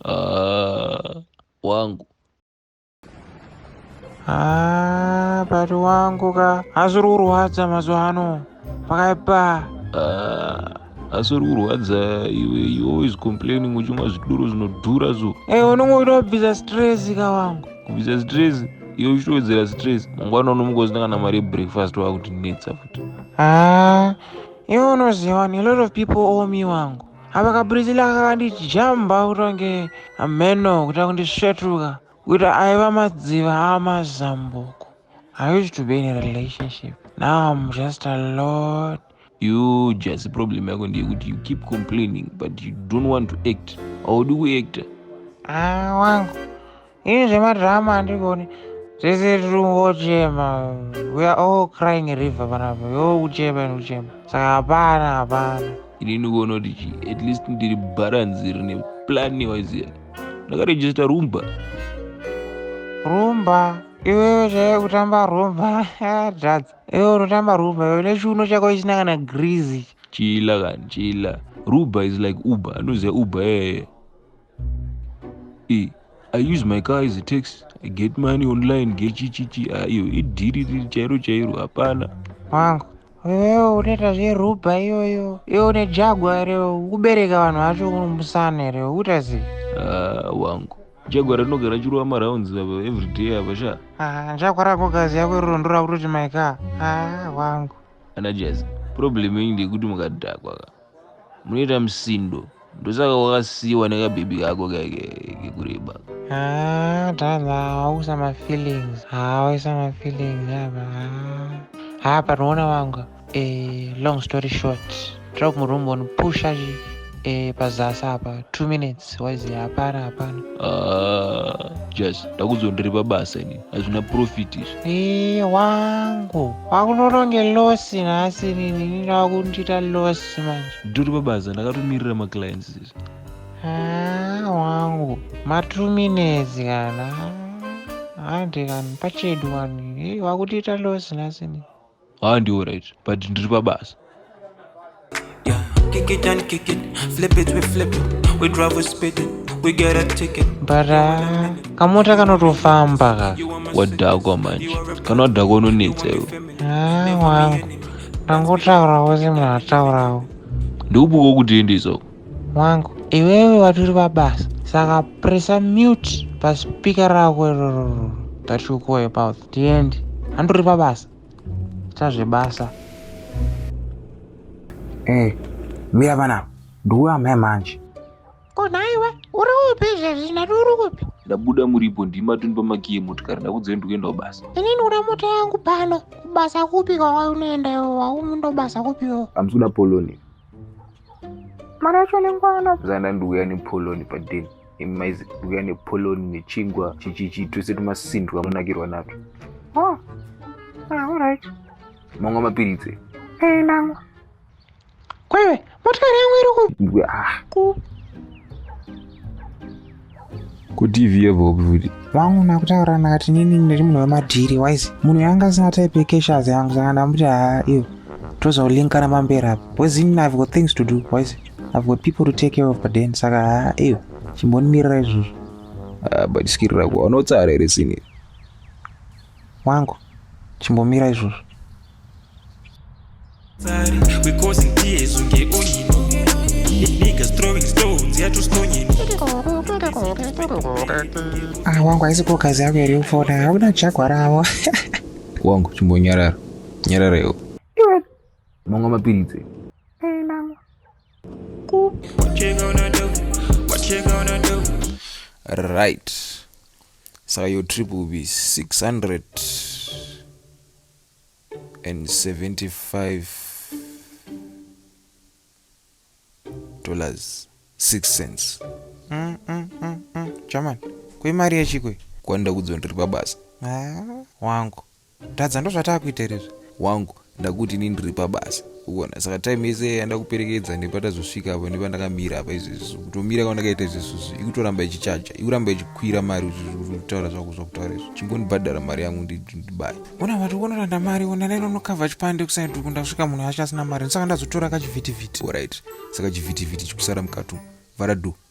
Ah, wangu Ah, bari wangu ka hazviri kurwadza mazuva ano pakaipa Ah, asi uri kurwadza iwe you always complaining uchimwa zvidoro zvinodhura so e unenge uchida kubvisa stress ka wangu kubvisa stress iwe uchitowedzera stress mangwana unomuka usina kana mari yebreakfast wakutinetsa futi Ah, Iwe unoziva ni lot of people owe me wangu. Apa kabrizila kakanditi jamba kutonge ameno kuita kundisvetuka kuti aiva madziva amazambuko. I used to be in a relationship. Now I'm just a lot. You just problem yako ndeyekuti you keep complaining but you don't want to act. Haudi kuactor. Ah, wangu. Ini zvemadrama handigoni sisi tiri kungochema we are all crying a river panapa yo kuchema and kuchema saka hapana hapana ini ndikuona kuti chi at least ndiri balance rine plan waiziya ndakarejista rumba rumba iwewe chaiye kutamba rumba drugs iwe unotamba rumba iwe nechiuno chako isina kana grease chila kani chila ruba is like uber anoziva uber yeye e i use my car as a tax i get money online gechichichi ayo ah, idhiri riri chairo chairo hapana wangu wewewo unoita zveruba iyoyo iwe une jagwa here ukubereka vanhu vacho unomusana here ukuita sei ah, wangu jagwa rinogara chirova marounds ava everyday ava sha ah, jagwa rakogazi yako iroro ndorakutoti my car wangu ana jazi problem yenyu ndeyekuti mukadhakwa ka munoita musindo ndosaka wakasiiwa nekabhebhi kako kaike kekureba ah, brother hauisa mafeelings hauisa ah, mafeelings apa ah. ha panoona vanga eh, long story short tira kumurumba unopusha chi eh, pazasi apa two minutes waizi hapana hapana just ndakuzondiri pabasa ini hazvina profit izvi ee wangu wakunoronge loss nhasi nini ndakundiita loss manje nditori pabasa ndakatomirira maclients izvi haa wangu matuminezi kana hande kani pachedu wani ee wakundiita loss nhasi nini haa ndi alright but ndiri pabasa bara kamota kanotofamba ka wadhakwa manje kana wadhakwa unonetsa iwe wangu ndangotaurawo semunhu ataurawo ndikubuka kuti endisoko Wangu iwewe watori vabasa saka pressa mute paspeaker rako irororo that you call about tiende andori vabasa ita zvebasa eh mira vana ndiwe amai manje ko nhaiwe uri upi izvezvi nati uri kupi ndabuda muripo ndima toni pamakiye motikari ndakudzei ndikuendawo basa ini ndikuda mota yangu pano kubasa kupi kwawai unoenda iwo waumundobasa kupi iwo amsuda poloni mari yacho inenge wanapo zana ndiuya nepoloni padeni imi maizi ndiuya nepoloni nechingwa chichichi tose tumasindwa munakirwa nato oh. ah, orit mamwa mapiritse ee namwa kwaiwe motokari yangu iri ku ah. ku kutv yebobi futi vangu makutaura nakati nini ndiri munhu wemadhiri wise munhu yanga asina type yekeshazi yangu saka ndamuti haa iyo tozolinkana pamberi apo bcause ini i've got things to do wise i've got people to take care of but then saka haa iyo chimbonimirira izvozvo ah, but skiri rako anotsara here sini wangu chimbomira izvozvo Ah, wangu haisi ko kazi yako iri kufona hauna chakwa ravo wangu chimbonyarara nyarara iwo mamwe mapiritsi right saka your trip will be 600 and 75 dollars 6 cents mm, mm, mm, mm. chaman kuimari yechikwe kwanda kudzo ndiri pabasa ah, wangu tadza ndozvataa kuita rezvi wangu ndakuti ini ndiri pabasa uona saka time yese yanda kuperekedza nepatazosvika apo nepandakamira apa izvezvi kutomira kwandakaita izvezvizvi ikutoramba ichichaja ikuramba ichikwira mari kutaura zvako zvakutaura izvo chingondibhadhara mari yangu ndibaya ona vati ukonoranda mari ona naironokavha chipande kusaidi uku ndasvika munhu acho asina mari ndosaka ndazotora kachivhitivhiti orit saka chivhitivhiti chikusara mukati vara do